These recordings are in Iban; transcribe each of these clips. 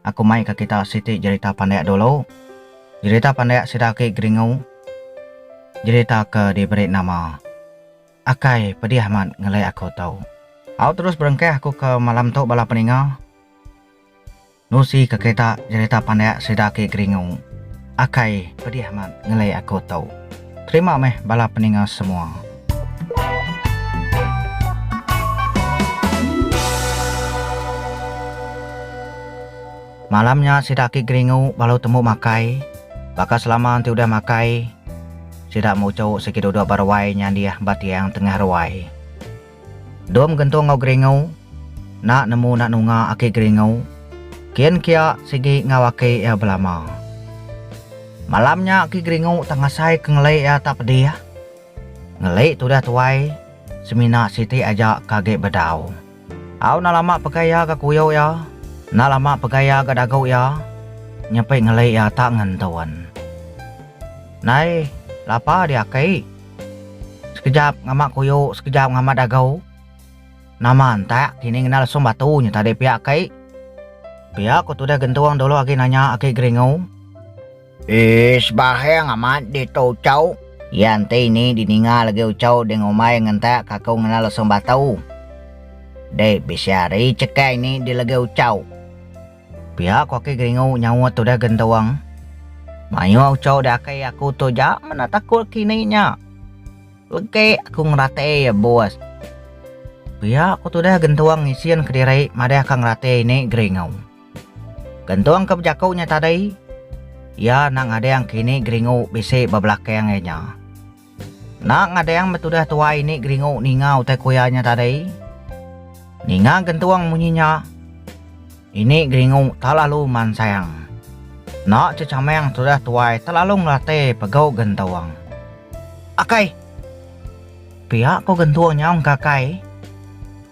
Aku mai ka kita siti jerita pandak dulu. Jerita pandak sida aki Geringu. Jerita ke diberi nama Akai pedih amat ngelek aku tu. Au terus berengkah aku ke malam tu bala peninga. Nusi ka kita jerita pandak sida aki Geringu. Akai pedih amat ngelek aku tu. Terima meh bala peninga semua. Malam nya sida aki geringu balu tembu makai. Baka selama enti udah makai, sida muchu sigi duduk ba ruai nyandih ba tiang tengah ruai. Dom gentung enggau Geringu, nak nemu nak nunga aki Geringu, kin kia sigi enggau aki iya belama. Malam nya aki Geringu tak ngasai ke ngelik iya tak pedih. Ngelik tudah tuai, semina siti aja ke agi bedau. Au nak lama pegai iya ga kuyu iya, nak lama pegai iya ga dagu iya, nyepi ngelik iya tak ngentun. Nai, lapa diaki? Sekejap ngama kuyu sekejap ngama dagu. Nama entak kini ngena lesung batu nyu tadi pia aki. Pia ko tudah gentung dulu agi nanya aki Geringu. Ish baheng amat ditu Ucau. Iya enti ini dininga lagi Ucau ding umai ngentak kaku ngena lesung batu. Dek bisi hari cheke ini dilegi Ucau. Pia ku aki Geringu nyaut tudah gentung. Mayuh uchu dah aki aku tu ja meda takut kini nya. Legek aku ngerati iya bos. Pia ku tudah gentung ngisin kediri madah ka ngerati ini Geringu. Gentung ke bejaku nya tadi iya enda ngadang kini Geringu bisi ba belakang iya nya. Enda ngadang betudah tuai ni geringu ninga utai kuya nya tadi. Ninga gentung munyi nya, ini geringu talalu mansang. Enda cecamang tudah tuai talalu ngelate pegu gentung. Akai! Pia ko gentung nyau engka akai.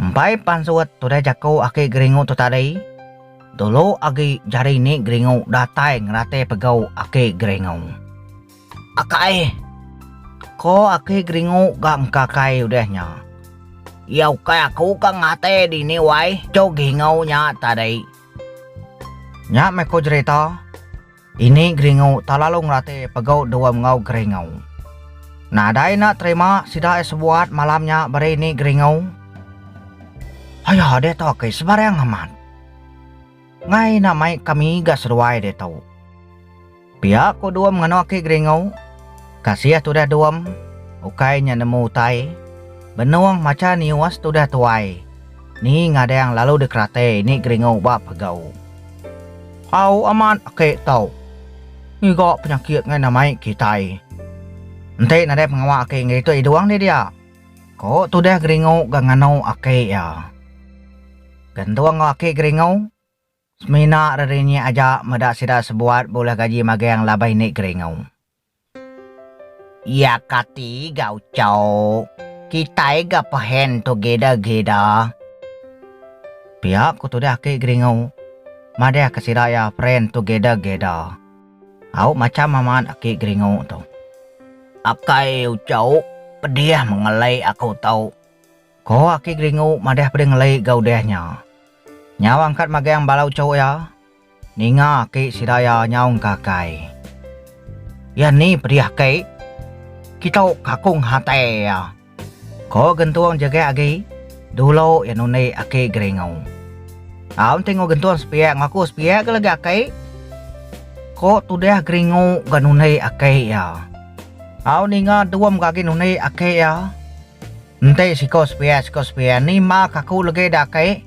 Empai pansut tudah jaku aki Geringu tu tadi, dulu agi jari ni Geringu datai ngerati pegau aki Geringu. Akai! ko aki Geringu ga engkakai udah nya. Iya ukai aku ka ngati dini wai, cu Gingau nya tadi. Nya meh ko jerita. Ini geringu tak lalu ngerati pegu dua mengau geringu. Nadai enda terima sida ai sebuat malam nya beri ni geringu. Ayo diatu aki sebarang amat. Ngai enda mai kami ga seduai diatu. Pia ku dua menganu aki geringu. Kasih tudah dua ukai nya nemu utai benung macha nius tudah tuai ni ngadang lalu dikerati ini geringu ba pegu. Au amat ake tau ngiga penyakit ngaina mai kitai. Enti nadai pengawa ake ngerituk iya duang deh dia, ko tudah geringu ga nganu ake iya. Gentung enggau ake geringu semina rerinyek aja meda sida sebuat bulih gaji magang laban ini geringu. Iya kati ga ucau kitai ga pehen together geda. Pia ku tudah aki Geringu madah ke sida iya friend together geda. Au macham amat aki Geringu tu. Akai ucau pedih mengelai aku tu. Ko aki Geringu madah pedih ngelai ga udah nya. Nyau angkat magang bala ucau iya. Ninga aki sidaya nyaung ka kai. Iya ni pedih ki. Kita kakung hati iya. Ko gentung jegek agi. Dulu iya nundi aki Geringu. Au enti ngo gentung sepiak ngo aku sepiak ga lagi aki. Ko tudah Geringu ga nundi aki iya. Au ninga dum ga agi nundi aki iya. Enti siko sepiak siko sepiak ni ma kaku lagi da aki.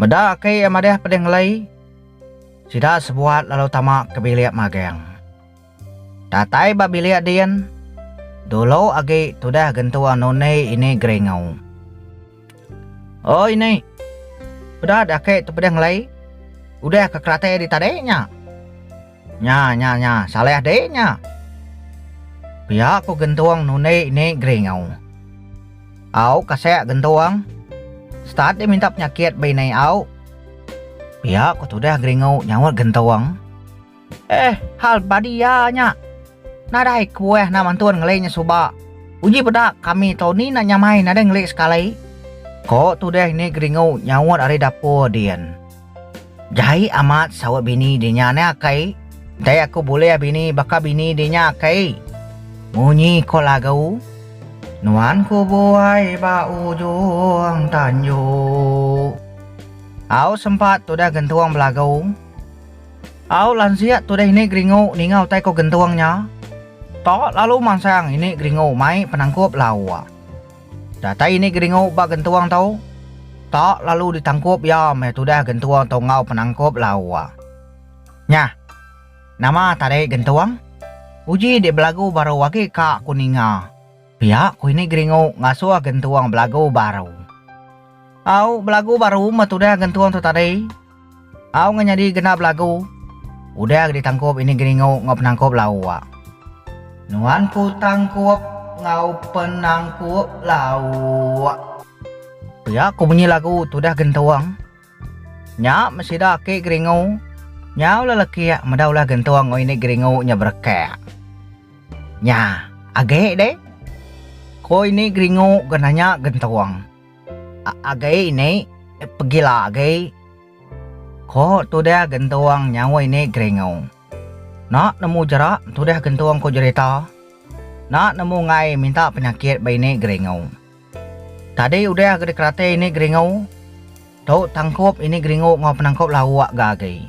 Meda ke iya madih pedih ngelai, sida sebuat lalu tama ke bilik magang. Datai ba bilik din, dulu agi tudah gentua Nuni ini geringau. Oi Ni, peda deh ake tu pedih ngelai, udah ke keratai ari tadi nya. Nya nya nya salah deh nya. Pia ku gentung nundi ni geringu. Au kasek gentung. Start deh minta penyakit be ni au. Pia ku tudah geringu nyaut gentung. Eh hal badi ya nya. Nadai kuah nak mantun ngeli nya suba. Uji peda kami tau ni nak nyamai nadai ngeli sekali. Ko tudah ni geringu nyaut ari dapur din. Jai amat saut bini dia nya neh akai. Dai aku bulih bini baka bini dia nya akai. Munyi ko lagu. Nuan ku buai ba ujung tanjung. Au sempat tudah gentung belagu. Au lansiak tudah ini geringu ninga utai ko gentung nya. Tok lalu mansang ini geringu mai penangkup lauk. Datai ni geringu ba gentuang tu? Tak lalu ditangkup iya meh tudah gentuang tu enggau penangkup lawa. Nya. Nama tadi gentuang? Uji dik belagu baru agi ka ku ninga. Pia ku ini geringu ngasuh gentuang belagu baru. Au belagu baru meh tudah gentuang tu tadi. Au ngan nyadi genap lagu. Udah ditangkup ini geringu enggau penangkup lau wak. Nuan ku tangkup enggau penangkup lau wak. Pia ku munyi lagu tudah gentung. Nya meh sida aki geringu. Nyau lah lekik meda ulah gentung enggau ini geringu nya berekak. Nya age deh. Ko ini geringu ke nanya gentung. Agi ini pegila agi. Ko tudah gentung nyawa ini geringu. Nak nemu jerak tudah gentung ko jerita. Nak nemu ngai minta penyakit ba ini geringu. Tadi udah ke dikerati ini geringu. Tu tangkup ini geringu enggau penangkup lauk ga agi.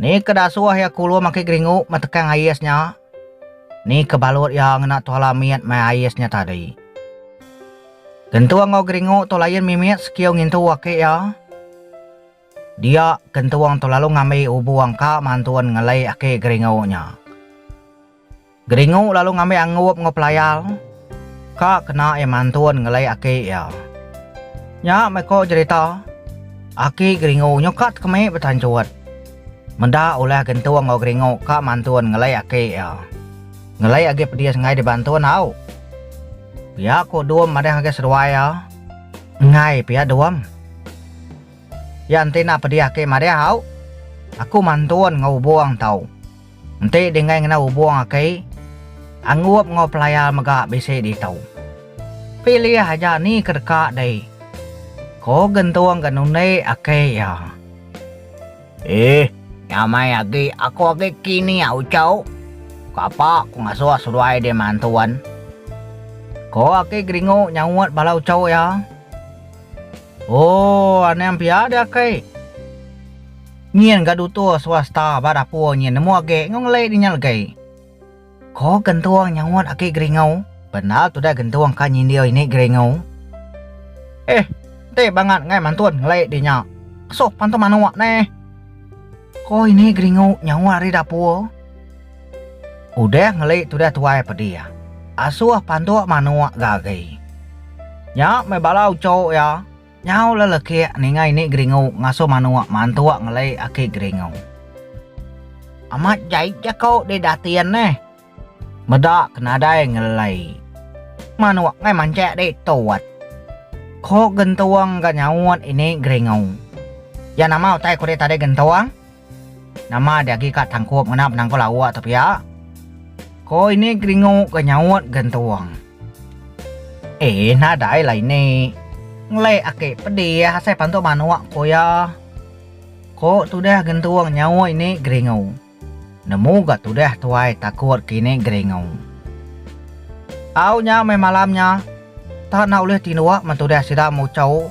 Ni ke da suah iya kulu maki geringu metekang ais nya? Ni ke balut iya ngena tuala mit mai ais nya tadi? Gentung enggau geringu tu lain mimit sekiu ngintu aki iya. Dia, gentung tu lalu ngambi ubu angka mantun ngelei aki geringu nya. Geringu lalu ngambi angup enggau pelayar ka kena iya mantun ngelai aki iya. Nya meh ko jerita, Aki Geringu nyuka tekemik betanchut. Meda ulah Gentung enggau Geringu ka mantun ngelai aki iya. Ngelai agi pedis enggai dibantun au. Pia ko Dum madah ngagai seduai iya. Enggai pia Dum. Iya enti enda pedis aki madah au. Aku mantun enggau Ubong tau. Enti dinggai ngena ubung aki, anggup enggau pelayar mega bisi ditu. Pilih aja ni ke deka dei, ko Gentung ga nundi aki iya. Iih, nya meh agi aku agi kini au chau, kapa ku ngasuh seduai di mantun, ko Aki Geringu nyaut bala uchu iya. Ooh, aning pia di aki. Nyin ga dutur swasta ba dapur nyin nemu age enggau ngelai di nya legai. Ko gentung nyaut aki Geringau. Bendar tudah gentung ka nyindir ini Geringau. Eh enti bangat ngai mantun ngelai di nya. Kesuh pantun manuk neh. Ko ini Geringau nyaut ari dapur. Udah ngelai tudah tuai pedih. Asuh pantuk manuk ga agi. Nya meh bala uchu iya. Nyau la lekik ninga ini geringu ngasu manuk mantuk ngeli aki geringu. Amat jai jako deh datin neh. Meda ke nadai ngelei. Manuk ngai mancik deh tut. Ko gentung ga nyaut ini geringu. Ya nama utai ko deh tadi gentung? Nama diagi ka tangkup ngena penangkul awak tu pia? Ko ini Gringo ke nyaut gentung. Eh nadai lah ini. Ngelek ake pedih asai pantuk manuk ko iya. Ko tudah gentung nyaut ini Gringo. Nemu ga tudah tuai takut ke ini Gringo. Au nya meh malam nya. Tak enda ulih tinduk men tudah sida muchau.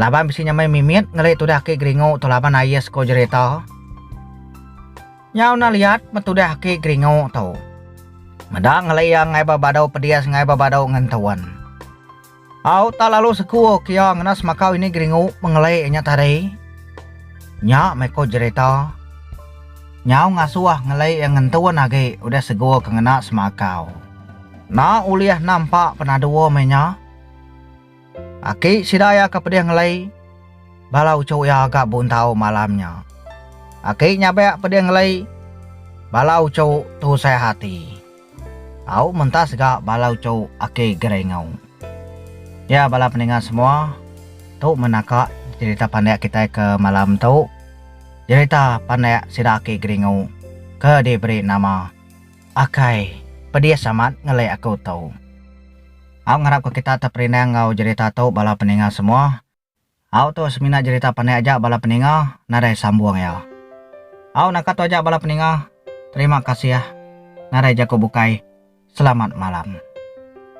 Laban bisi nyamai mimit ngeli tudah aki geringu tu laban aie sku jerita. Nyau na liat me tudah aki geringu tu. Meda ngeli ia ngai ba badu pedis ngai ba badu ngentun. Au tak lalu sku ke ia ngena semakau ini geringu mengeli nya tadi. Nya meh ku jerita. Nyau ngasuh ngeli ia ngentun agi udah sgu ke ngena semakau. Na ulih nampak penadu meh nya. Aki sida iya ke pedih ngelei bala uchu iya ga buntau malam nya. Aki nya bek pedih ngelei bala uchu tusah hati. Tau mentas ga bala uchu aki Gerengau. Ya bala peninga semua, tu meh naka jerita pandek kitai ke malam tu, jerita pandek sida aki Gerengau ke diberi nama. Akai, pedis amat ngelek aku tu. Au ngarap ke kita teperinang enggau jerita tu bala peninga semua. Au tu semina jerita pandai aja bala peninga nadai sambung iya. Au naka tu aja bala peninga, terima kasih nadai jaku bukai, selamat malam.